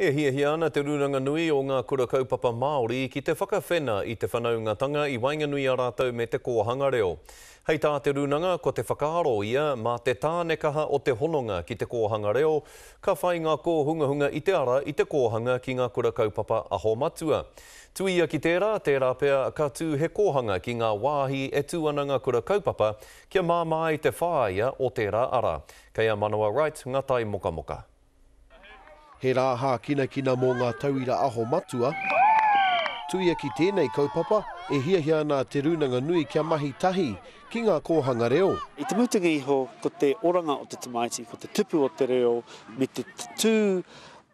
E hiahia ana Te Rūranga Nui o Ngā Kura Kaupapa Māori ki te whakawhena i te whanaungatanga i waenganui a rātou me te kōhanga reo. Hei tā te Rūnanga, ko te whakaaro ia, mā te tāne kaha o te hononga ki te kōhanga reo, ka whai ngā kōhungahunga i te ara i te kōhanga ki ngā kura kaupapa aho matua. Tuia ki tērā, tērā pea ka tū he kōhanga ki ngā wāhi e tū ana ngā kura kaupapa kia māmā ai te whāia o tērā ara. Kei a Manawa Wright ngā taimokamoka. He rā hākinakina mō ngā tauira aho matua. Tuia ki tēnei kaupapa, e hiahia ana a Te Rūnanga Nui kia mahi tahi ki ngā kōhanga reo. I te mutunga iho, ko te oranga o te tamaiti, ko te tupu o te reo me te tatū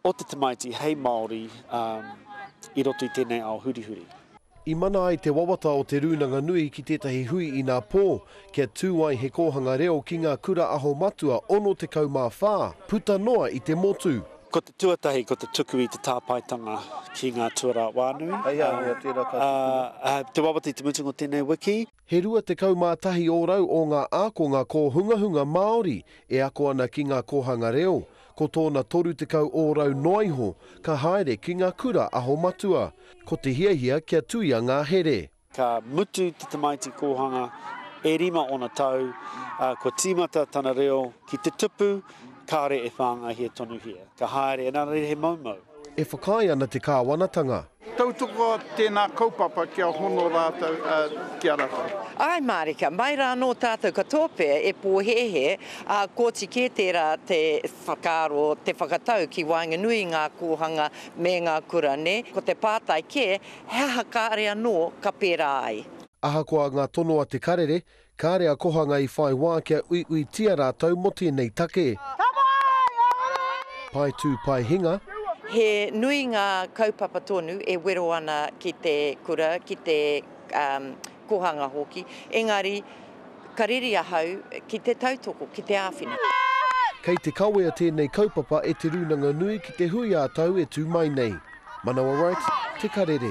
o te tamaiti hei Māori i roto i tēnei ao hurihuri. I mana ai te wawata o Te Rūnanga Nui ki tētahi hui inā pō, kia tū ai he kōhanga reo ki ngā Kura Aho Matua 64, puta noa i te motu. Ko te tuatahi ko te tuku i te tāpaetanga ki ngā tuarā whānui, ā, te wawata i te mutunga o tēnei wiki. He 21 ōrau ō ngā ākonga kōhungahunga Māori e ako ana ki ngā kōhanga reo, ko tōna 30 ōrau noa iho ka haere ki ngā kura aho matua, ko te hiahia kia tuia ngā here. Ka mutu te tamaiti kōhanga e rima ōna tau, ā, kua tīmata tana reo ki te tupu, kāore e whāngaihia tonuhia. Ka haere, engari he moumou. E whakaae ana te kāwanatanga. Tautoko tēnā kaupapa kia hono rātou ki a rātou. Āe mārika, mai rā anō tātou katoa pea e pōhēhē, ā, koti kē tērā te whakaaro, te whakatau ki waenganui i ngā kōhanga me ngā kura, nē? Ko te pātai kē, he aha kāre anō ka pērā ai? Ahakoa ngā tono a Te Karere, Kāre a Kohanga i whai wā kia uiuitia rātou mō tēnei take. Pae tū, pae hinga. He nui ngā kaupapa tonu e wero ana ki te kura, ki te kohanga hoki, engari ka reri ahau ki te tautoko, ki te āwhina. Kei te kawea tēnei kaupapa e Te Rūnanga Nui ki te hui ā-tau e tū mai nei. Manawa Wright, Te Karere.